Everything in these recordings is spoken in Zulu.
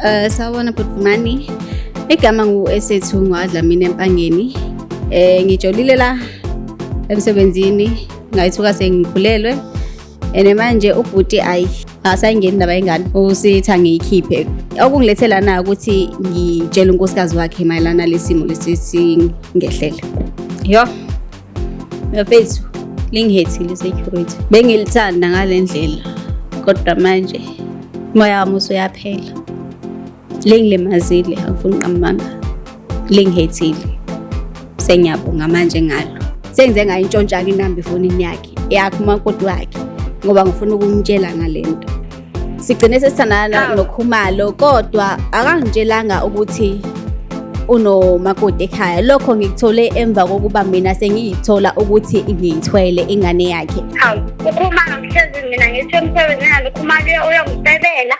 Uh, sawubona bhuti Vumani. Igama ngu-Esethu Ngwadlamini Empangeni. Eh ngijolile la emsebenzini ngayithuka sengikhulelwe. Ene manje ubhuti ayi asayingeni ndaba ingane usithi angiyikhiphe okungilethe lana ukuthi ngitshele unkosikazi wakhe mayelana lesimo lesi singehlele. Yho. Ngafethu lingihethile security. Bengilithanda ngalendlela kodwa manje moya wami usuyaphela. Lingilimazile angifuni qamanga. Lingihethile. Sengiyabonga manje ngalo. Sengize ngayintshontsha ke inamba efonini yakhe. Yakhe umakoti wakhe ngoba ngifuna ukumtshela ngalento. sigcine sesithandana nokhumalo kodwa akangitshelanga ukuthi unomakoti ekhaya lokho ngikuthole emva kokuba mina sengiyithola ukuthi ngiyithwele ingane yakhe hawu ukhumalo ngihlezi mina ngithi emsebenzini nalo khumalo uyokusebela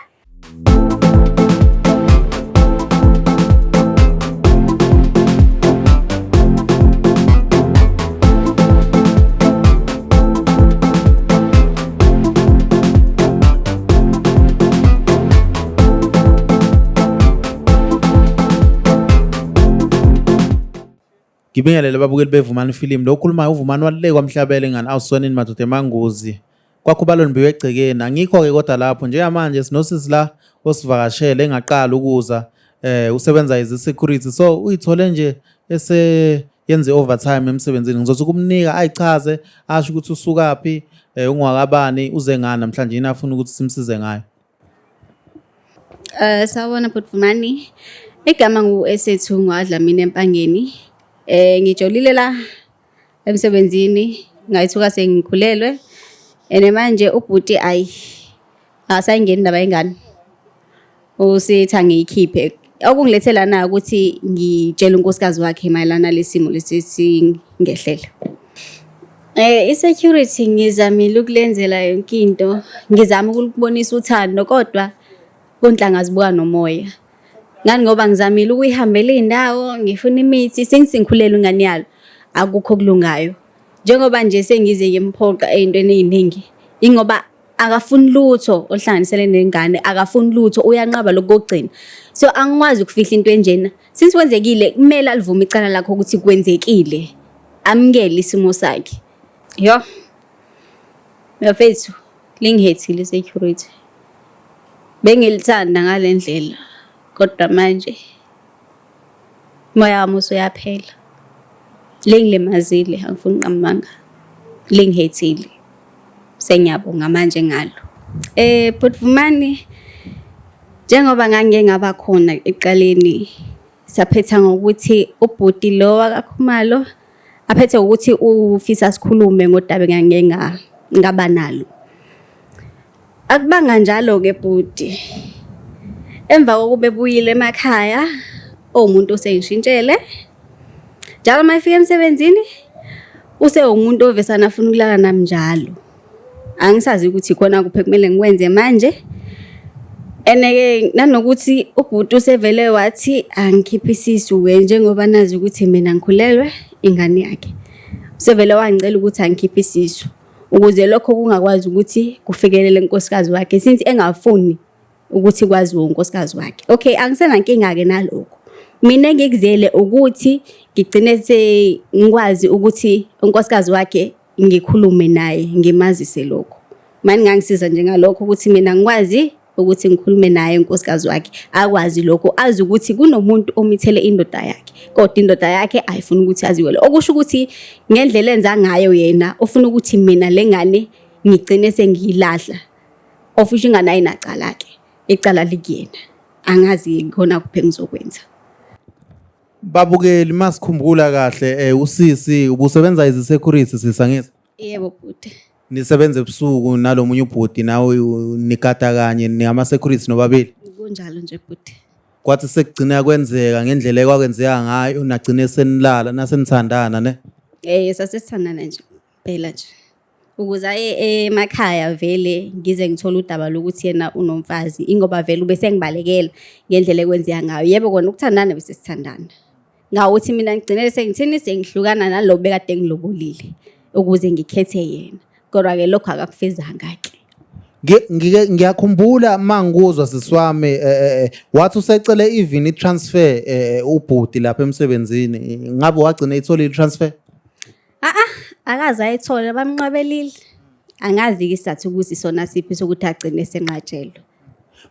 Ngibingelele babukeli bevumani film lo okhulumayo uvumani waluleka wamhlabela ingane awusonini madoda emanguzi kwakhubalo nibiwe egcekeni angikho-ke kodwa lapho njengamanje sinosisi la osivakashele engaqala ukuza eh usebenza as security so uyithole nje ese yenze overtime emsebenzini ngizothi kumnika ayichaze asho ukuthi usukaphi eh, ungwakabani uze ngani namhlanje yini afuna ukuthi simsize ngayo Eh sawona bhuti Vumani. Igama ngu Esethu ngwadlamini empangeni. Eh ngijolile la emsebenzini ngayithuka sengikhulelwe. Ene manje ubhuti ayi asayingeni indaba yengane usithi angiyikhiphe okungilethe lana ukuthi ngitshele unkosikazi wakhe mayelana lesimo lesisingehlela Eh i-security ngizamile ukulenzela yonke into, ngizama ukulibonisa uthando kodwa kunhlanga zibuka nomoya. Ngani ngoba ngizamile ukuyihambela iy'ndawo, ngifuna imithi, since ngikhulelwe ingane yalo, akukho okulungayo. Njengoba nje sengize ngimphoqa ey'ntweni ey'ningi, ingoba akafuni lutho oluhlanganisele nengane akafuni lutho uyanqaba lokugcina so angikwazi ukufihla into enjena since kwenzekile kumele alivume icala lakho ukuthi kwenzekile amukele isimo sakhe yo mfethu lingihethile security bengilithanda ngalendlela kodwa manje Moya wami usuyaphela. Lingilimazile angifuni ngamanga. Lingihethile. Sengiyabonga manje ngalo. Eh Bhutvumani njengoba ngangike ngaba khona eqaleni saphetha ngokuthi ubhuti lo wakakhumalo aphethe ukuthi ufisa sikhulume ngodaba engangike ngaba nalo. Akubanga njalo-ke bhuti. Emva kokuba ebuyile emakhaya owumuntu osengishintshele njalo uma efika emsebenzini usewumuntu ovesana afuna ukulala nami njalo. Angisazi ukuthi khona kuphi kumele ngikwenze manje. Eneke nanokuthi ubhuti usevele wathi angikhiphe isisu-ke njengoba nazi ukuthi mina ngikhulelwe ingane yakhe. Usevele wangicela ukuthi angikhiphe isisu. ukuze lokho kungakwazi ukuthi kufikelele unkosikazi wakhe since engafuni ukuthi kwaziwe unkosikazi wakhe okay angisenankinga-ke nalokho mina engikuzele ukuthi ngigcine sengikwazi ukuthi unkosikazi wakhe ngikhulume naye ngimazise lokho mani ngangisiza njengalokho ukuthi mina ngikwazi ukuthi ngikhulume naye unkosikazi wakhe akwazi lokho azi ukuthi kunomuntu omithele indoda yakhe kodwa indoda yakhe ayifuni ukuthi aziwele okusho ukuthi ngendlela enza ngayo yena ufuna ukuthi mina lengane ngigcine sengiyilahla ofisha ingane ayinacala ke icala likuyena angazi khona kuphe ngizokwenza babukeli masikhumbula kahle eh, usisi ubusebenza izisecurity sisangisa Yebo bhuti. Nisebenza ebusuku nalomunye ubhuti nawe nikata kanye ningama security nobabili. Kunjalo nje bhuti. Kwathi sekugcina kwenzeka ngendlela ekwakwenzeka ngayo nagcine senilala nasenithandana ne. Eh sasesithandana nje phela nje. Ukuze aye emakhaya vele ngize ngithole udaba lokuthi yena unomfazi ingoba vele ube sengibalekela ngendlela ekwenzeka ngayo. Yebo kona ukuthandana bese sithandana. ngawuthi mina ngigcinele sengithini sengihlukana nalo bekade ngilobolile ukuze ngikhethe yena kodwa-ke lokho akakufezanga-ke ngiyakhumbula mangikuzwa sisiwami eh, eh, eh, wathi usecele even i-transfer ubhuti lapha emsebenzini ngabe wagcina ithole i-transfer Aa akaze ayithole bamnqabelile. Angazi ke isizathu ukuthi sona siphi sokuthi agcine senqatshelwe.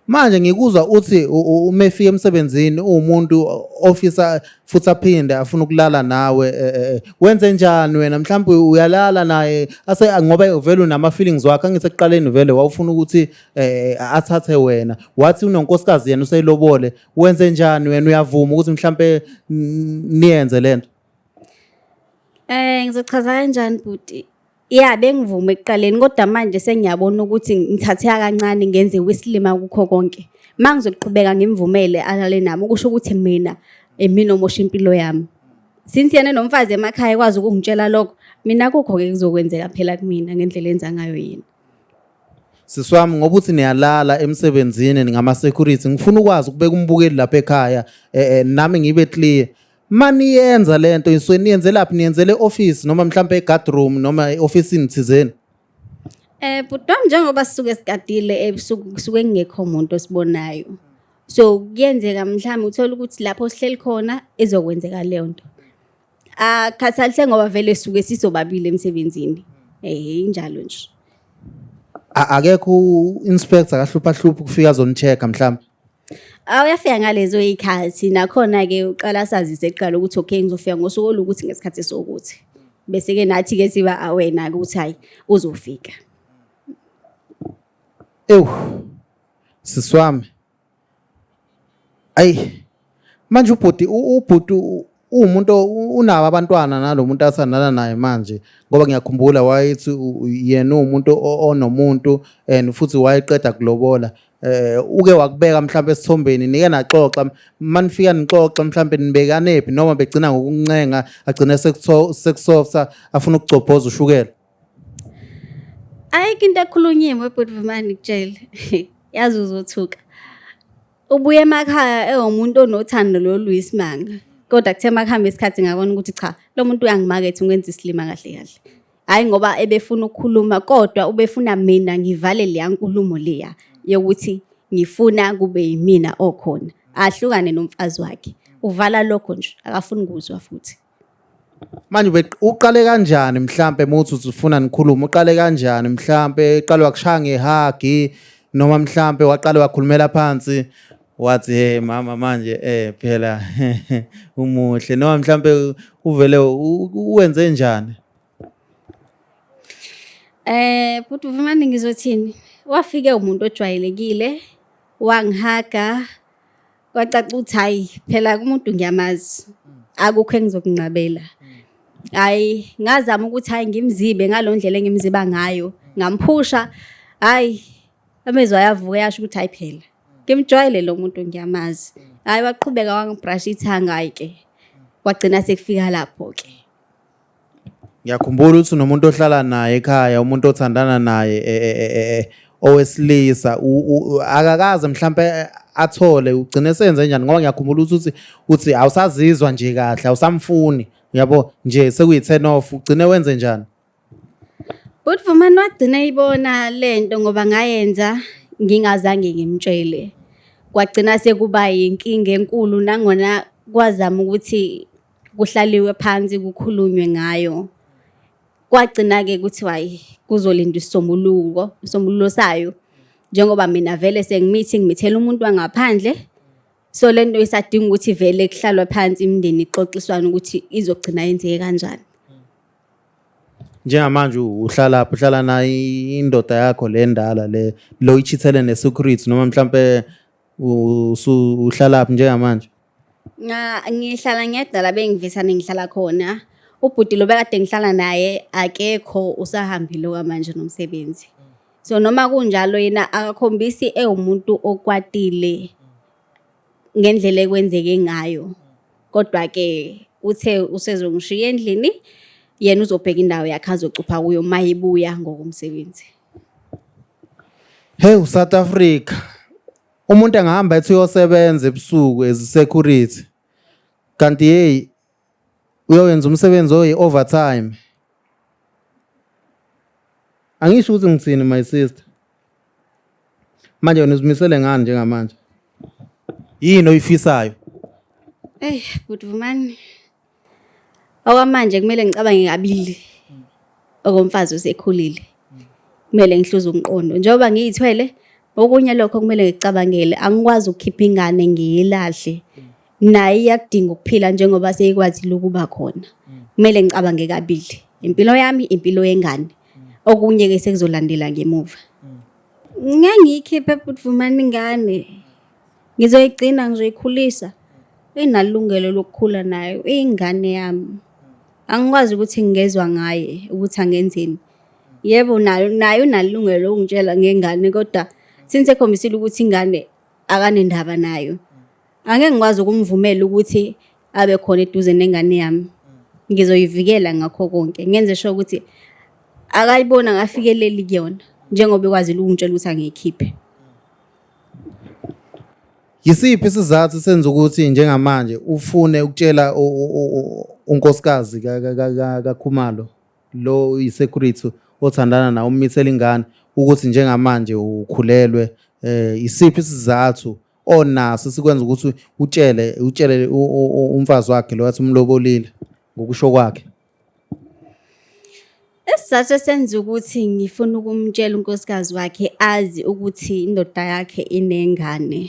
Manje ngikuzwa uthi u- u- uma efika emsebenzini uwumuntu ofisa futhi aphinde afuna ukulala nawe eh, eh, eh. wenze njani wena mhlawumbe uyalala naye ase ngoba vele unama feelings wakhe angithi ekuqaleni vele wawufuna ukuthi eh, athathe wena wathi unonkosikazi yena uselobole wenze njani wena uyavuma ukuthi mhlawumbe mm, niyenze lento Ngizochaza kanjani bhuti? Ya bengivume ekuqaleni kodwa manje sengiyabona ukuthi ngithatheka kancane ngenze wesilima kukho konke. Uma ngizoqhubeka ngimvumele alale nami kusho ukuthi mina imina omosha impilo yami. Since yena nomfazi emakhaya ekwazi ukungitshela lokho, mina kukho-ke kuzokwenzeka phela kumina ngendlela enza ngayo yena. Sisi wami ngoba uthi niyalala emsebenzini ningama-security ngifuna ukwazi ukubeka umbukeli lapha ekhaya eh, eh, nami ngibe clear maniyenza le nto nisuke niyenzelaphi niyenzela e-ofisi noma mhlawumpe e-guardroom noma e-ofisini thizeni Eh bhuti wami njengoba sisuke sigadile ebusuku kusuke kungekho muntu osibonayo. So kuyenzeka mhlawumbe uthole ukuthi lapho sihleli khona izokwenzeka leyo nto. Akhathalise ngoba vele suke sisobabili emsebenzini. Eh injalo nje. A- akekho u-inspector akahlupha hlupha ukufika azonicheck mhlawumbe Awuyafika ngalezo y'khathi nakhona-ke uqala sazise kuqala ukuthi okay ngizofika ngosuku olukuthi ngesikhathi sokuthi. Bese-ke nathi-ke siba awena-ke ukuthi hhayi uzofika. Ewu, sisi wami. Ayi. manje ubhuti ubhuti uwumuntu unabo abantwana nalo muntu athandana naye manje ngoba ngiyakhumbula wayethi yena uwumuntu onomuntu and futhi wayeqeda kulobola eh uke wakubeka mhlawumbe esithombeni nike naxoxa manifika nixoxa mhlawumbe nibekanephi noma begcina ngokuncenga agcine sekusoftha afuna ukugcobhoza ushukela ayikho into ekhulunyiwe bhuti vumani ngitshele yazi uzothuka Ubuye emakhaya ewumuntu onothando lolu isimanga. Kodwa kuthe makuhamba isikhathi ngabona ukuthi cha lo muntu uyangimaketha ungenza isilima kahle kahle. Hayi ngoba ebefuna ukukhuluma kodwa ubefuna mina ngivale leya nkulumo leya yokuthi ngifuna kube yimina okhona. Ahlukane nomfazi wakhe. Uvala lokho nje akafuni kuzwa futhi. manje uqale kanjani mhlampe muthi uzifuna nikhulume uqale kanjani mhlampe uqale wakushaya ngehagi noma mhlampe waqale wakhulumela phansi wathi hey mama manje eh phela umuhle noma mhlampe uvele uwenze njani eh futhi uvumani ngizothini wafike umuntu ojwayelekile wangihaga kwacaca ukuthi hayi phela kumuntu ngiyamazi akukho engizokunqabela hayi ngazama ukuthi hayi ngimzibe ngalondlela engimziba ngayo ngamphusha hayi amezwa ayavuka yasho ukuthi hayi phela ngimjwayele lo muntu ngiyamazi hayi waqhubeka wangibrush ithanga ke wagcina sekufika lapho ke ngiyakhumbula ukuthi unomuntu ohlala naye ekhaya umuntu othandana naye e, e, e, owesilisa akakaze mhlampe athole ugcine senze njani ngoba ngiyakhumbula ukuthi uthi awusazizwa nje kahle awusamfuni uyabo nje sekuyi-turn off ugcine wenze njani bhuti vumani wagcina ibona le nto ngoba ngayenza ngingazange ngimtshele kwagcina sekuba yinkinga enkulu nangona kwazama ukuthi kuhlaliwe phansi kukhulunywe ngayo kwagcina-ke kuthiwa hayi kuzolinda isisombuluko isombululo sayo njengoba mina vele sengimithi ngimithela umuntu wangaphandle so le nto isadinga ukuthi vele kuhlalwa phansi imindeni ixoxiswane ukuthi izogcina yenzeke kanjani njengamanje uhlala phi uhlala nayo indoda yakho le ndala le lo ichithele ne-secret noma mhlampe uhlala phi njengamanje Ngihlala ngedwa la bengivisane ngihlala khona. Ubhuti lo bekade ngihlala naye akekho usahambile okwamanje nomsebenzi. So noma kunjalo yena akakhombisi ewumuntu okwatile ngendlela ekwenzeke ngayo. Kodwa-ke uthe usezongishiya endlini yena uzobheka indawo yakhe azocupha kuyo uma ebuya ngokomsebenzi. Hewu South Africa. umuntu engahamba ethi uyosebenza ebusuku as security kanti hey uyoyenza umsebenzi oyi overtime angisho ukuthi ngithini my sister manje wena uzimisele ngani njengamanje yini oyifisayo eyi good man okwamanje kumele ngicabange kabili okomfazi usekhulile kumele ngihluze umqondo njengoba ngiyithwele okunye lokho kumele ngicabangele angikwazi ukukhipha ingane ngiyilahle naye iyakudinga ukuphila njengoba seyikwazile ukuba khona kumele ngicabange kabili impilo yami impilo yengane okunye ke sekuzolandela ngemuva ngangiyikhiphe futhi vumani ingane Ngizoyigcina, ngizoyikhulisa. Inalungelo lokukhula nayo, iyingane yami. Angikwazi ukuthi ngingezwa ngaye ukuthi angenzeni. Yebo nayo nayo unalungelo lokungitshela ngengane kodwa since ekhombisile ukuthi ingane akanendaba nayo. Angeke ngikwazi ukumvumela ukuthi abe khona eduze nengane yami. Ngizoyivikela ngakho konke, ngenze sure ukuthi akayiboni akafikeleli kuyona njengoba ekwazile ukungitshela ukuthi angiyikhiphe. Yisiphi isizathu senza ukuthi njengamanje ufune ukutshela unkosikazi kaKhumalo lo uyisecurity othandana nawo umithela ingane ukuthi njengamanje ukhulelwe eh isiphi isizathu onaso sikwenza ukuthi utshele utshele umfazi wakhe lo wathi umlobolile ngokusho kwakhe Isizathu esenza ukuthi ngifuna ukumtshela unkosikazi wakhe azi ukuthi indoda yakhe inengane.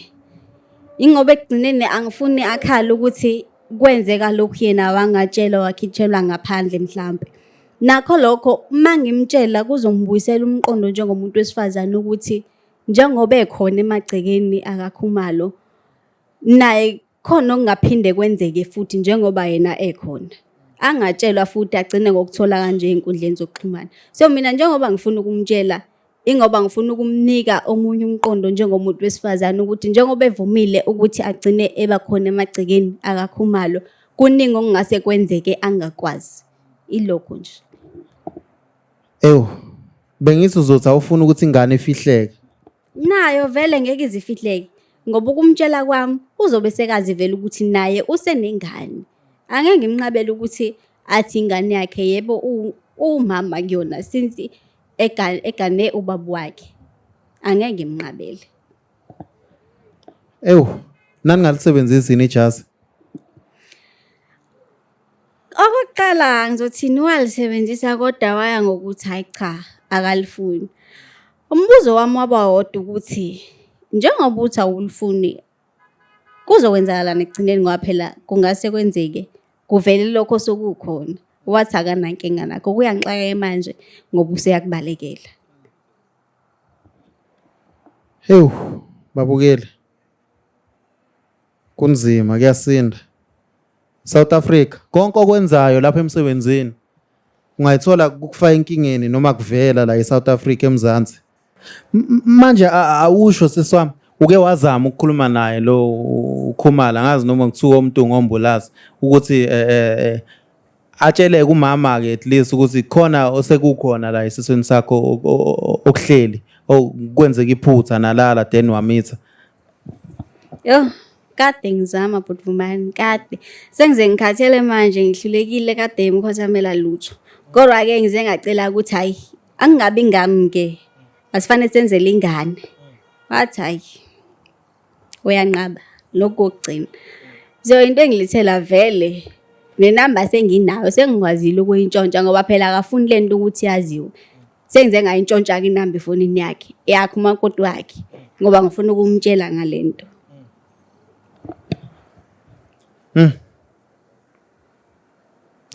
Ingoba ekugcineni angifuni akhale ukuthi kwenzeka lokhu yena wangatshelwa wakhitshelwa ngaphandle mhlampe. Nakho lokho uma ngimtshela kuzongibuyisela umqondo njengomuntu wesifazane ukuthi njengoba ekhona emagcekeni akakhumalo naye khona okungaphinde kwenzeke futhi njengoba yena ekhona angatshelwa futhi agcine ngokuthola kanje ey'nkundleni zokuxhumana so mina njengoba ngifuna ukumtshela ingoba ngifuna ukumnika omunye umqondo njengomuntu wesifazane ukuthi njengoba evumile ukuthi agcine eba khona emagcekeni akakhumalo kuningi okungase kwenzeke angakwazi ilokho nje ewu bengithi uzothi awufuna ukuthi ingane ifihleke Nayo vele ngeke izifihleke ngoba ukumtshela kwami uzobe sekazi vele ukuthi naye usenengane. Angeke ngimnqabele ukuthi athi ingane yakhe yebo uwumama kuyona since egane ubaba wakhe. Angeke ngimnqabele. Ewu, nani ngalisebenzisi yini ijazi? Okokuqala ngizothini walisebenzisa kodwa waya ngokuthi hhayi cha akalifuni. Umbuzo wami waba wodwa ukuthi njengoba uthi awulifuni kuzokwenzakalani ekugcineni ngoba phela kungase kwenzeke kuvele lokho sokukhona wathi akanankinga nakho kuyangixakeke manje ngoba useyakubalekela hewu babukele Kunzima kuyasinda. South Africa konke okwenzayo lapha emsebenzini ungayithola kukufa enkingeni noma kuvela la eSouth Africa eMzansi. M- Manje a- awusho siswami uke wazama ukukhuluma naye lo uKhumala ngazi noma kuthiwa umuntu ngombulazi ukuthi eh, eh, eh, atshele kumama ke at least ukuthi khona osekukhona la esisweni sakho o- o- o- okuhleli okwenzeka iphutha nalala then wamitha Yho, kade ngizama bhuti Vumani, kade. Sengize ngikhathele manje, ngihlulekile kade emkhothamela lutho. Kodwa-ke ngize ngacela ukuthi hhayi, angingabi ngami-ke, asifanele senzele ingane. Wathi hhayi, uyanqaba, lokhu kokugcina. So into engilithela vele nenamba senginayo sengikwazile ukuyintshontsha ngoba phela akafuni le nto ukuthi yaziwe sengize ngayintshontsha-ke inamba efonini yakhe yakhe umakoti wakhe ngoba ngifuna ukumtshela ngale nto hmm.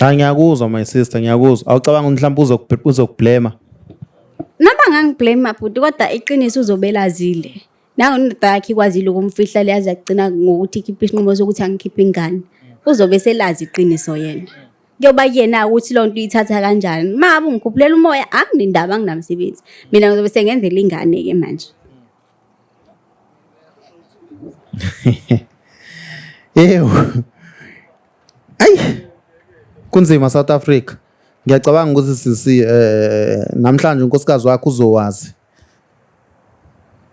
hayi ngiyakuzwa my sister ngiyakuzwa awucabanga ukuthi mhlawumbe uzokublema noma ngangiblame mabhuti kodwa iqiniso uzobelazile nango indoda yakhe ikwazile ukumfihla leyazi yagcina ngokuthi ikhiphe isinqumo sokuthi angikhiphe ingane uzobe selazi iqiniso yena kuyoba yena ukuthi loo nto uyithatha kanjani ma abungikhuphulele umoya anginendaba anginamsebenzi mina ngizobe sengenzela ingane-ke manje yewu ayi kunzima south africa ngiyacabanga ukuthi sisi um namhlanje unkosikazi wakho uzowazi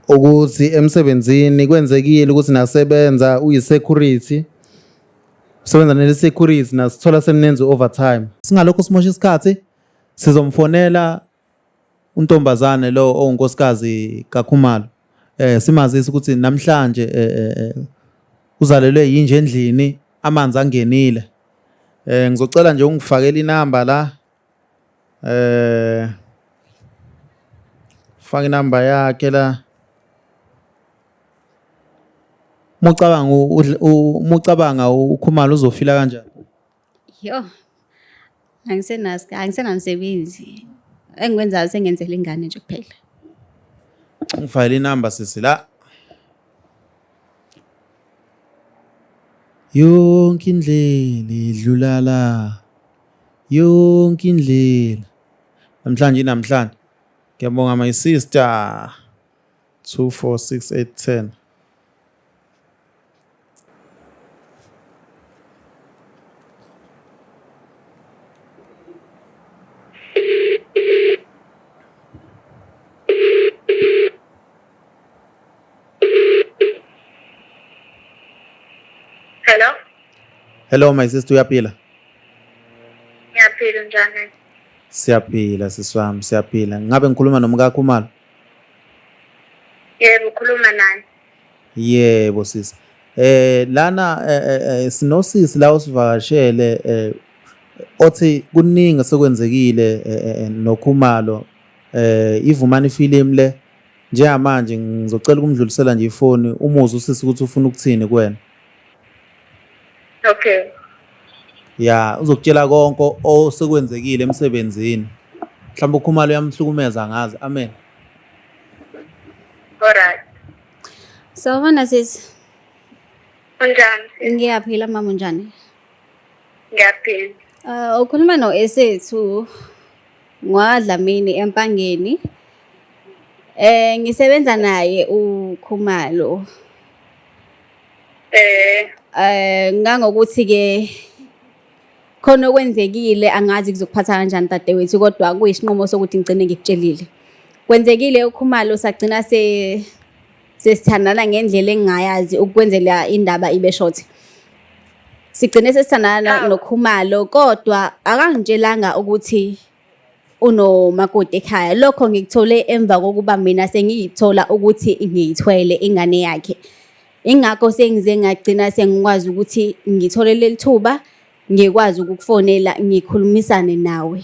ukuthi emsebenzini kwenzekile ukuthi nasebenza uyi-security usebenza nele-security nasithola seninenza i-overtime singalokho simosha isikhathi sizomfonela untombazane lo ongunkosikazi kakhumalo eh simazisa ukuthi namhlanje eh, eh, eh, uzalelwe yinje endlini amanzi angenile eh ngizocela nje ungifakele inamba la eh faka inamba yakhe la mucabanga mucabanga ukhumalo uzofila kanjani yo angisenazi angisenamsebenzi engikwenzayo sengenzela ingane nje kuphela ngifayile inamba sisi la yonke indlela idlula la yonke indlela namhlanje namhlanje ngiyabonga my sister 246810 Thank you. Hello. Hello my sister uyaphila? Ngiyaphila njani? Siyaphila siswami siyaphila. Ngabe ngikhuluma nomkakho umalo? Yebo ukhuluma nani? Yebo sisi. Eh lana eh, eh, eh, sinosisi la usivakashele eh othi kuningi sekwenzekile eh, eh, eh, nokhumalo eh ivumani film le Njengamanje ngizocela ukumdlulisela nje ifoni umuzwe usisi ukuthi ufuna ukuthini kuwena. Okay. Ya, uzokutshela konke osekwenzekile emsebenzini. Mhlawumbe ukhumalo uyamhlukumeza ngazi. Amen. Alright. Sawubona sisi. Unjani? Ngiyaphila mama unjani? Ngiyaphila. Uh, ukhuluma no-esethu NgwaDlamini eMpangeni. Eh ngisebenza naye uKhumalo. Eh eh ngangokuthi ke khona okwenzekile angazi kuzokuphatha kanjani dadewethu kodwa kuyisinqumo sokuthi ngigcine ngikutshelile. Kwenzekile uKhumalo sagcina se sesithandana ngendlela engingayazi ukwenzela indaba ibe short sigcine sesithandana nokhumalo kodwa akangitshelanga ukuthi unomakoti ekhaya lokho ngikuthole emva kokuba mina sengiyithola ukuthi ngiyithwele ingane yakhe ingakho sengize ngagcina sengikwazi ukuthi ngithole leli thuba ngikwazi ukukufonela ngikhulumisane nawe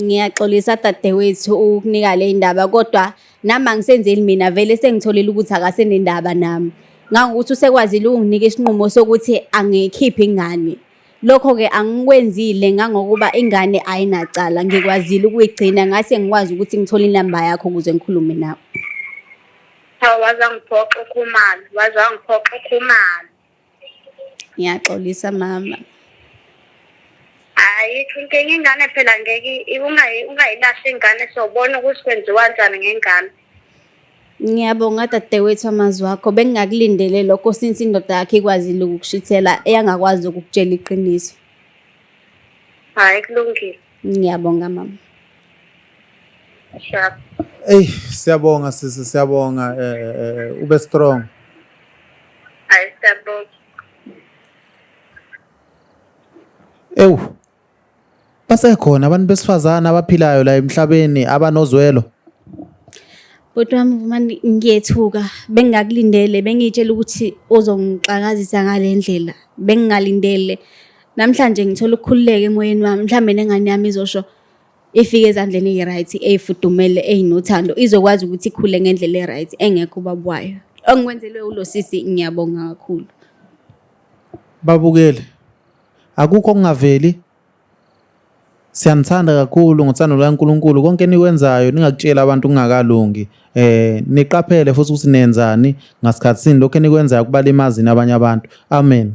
Ngiyaxolisa dadewethu ukukunika le ndaba kodwa nami angisenzeli mina vele sengitholile ukuthi akasenendaba nami ngangokuthi usekwazile ukunginika isinqumo sokuthi angikhiphi ingane lokho-ke angikwenzile ngangokuba ingane ayinacala ngikwazile ukuyigcina ngase ngikwazi ukuthi ngithole inamba yakho ukuze ngikhulume nawe cha waze angiphoxe ukhumalo waze angiphoxe ukhumalo ngiyaxolisa mama hayi inkinga ingane phela ngeke ungayilahle ingane sobona ukuthi kwenziwa njani ngengane ngiyabonga dadewethu amazwi wakho bengingakulindele lokho since indoda yakhe ikwazile ukukushithela eyangakwazi ukukutshela iqiniso hayi kulungile Ngiyabonga mama. Sure. Ey siyabonga sisi siyabonga eh, eh, eh, eh, ube strong. Hayi siyabonga. Ewu. Basekhona abantu besifazana abaphilayo la emhlabeni abanozwelo. Bhuti wami vumani ngiyethuka bengingakulindele bengiyitshela ukuthi uzongixakazisa ngale ndlela bengingalindele namhlanje ngithola ukukhululeka emoyeni wami mhlawumbe nengane yami izosho ifike ezandleni eyi-right eyifudumele eyinothando izokwazi ukuthi ikhule ngendlela e-right engekho ubaba wayo ongikwenzelwe ulo sisi ngiyabonga kakhulu babukele akukho okungaveli siyanithanda kakhulu ngothando lukaNkulunkulu konke enikwenzayo ningakutshela abantu kungakalungi eh niqaphele futhi ukuthi nenzani ngasikhathi sini lokho enikwenzayo kubalimazini abanye abantu amen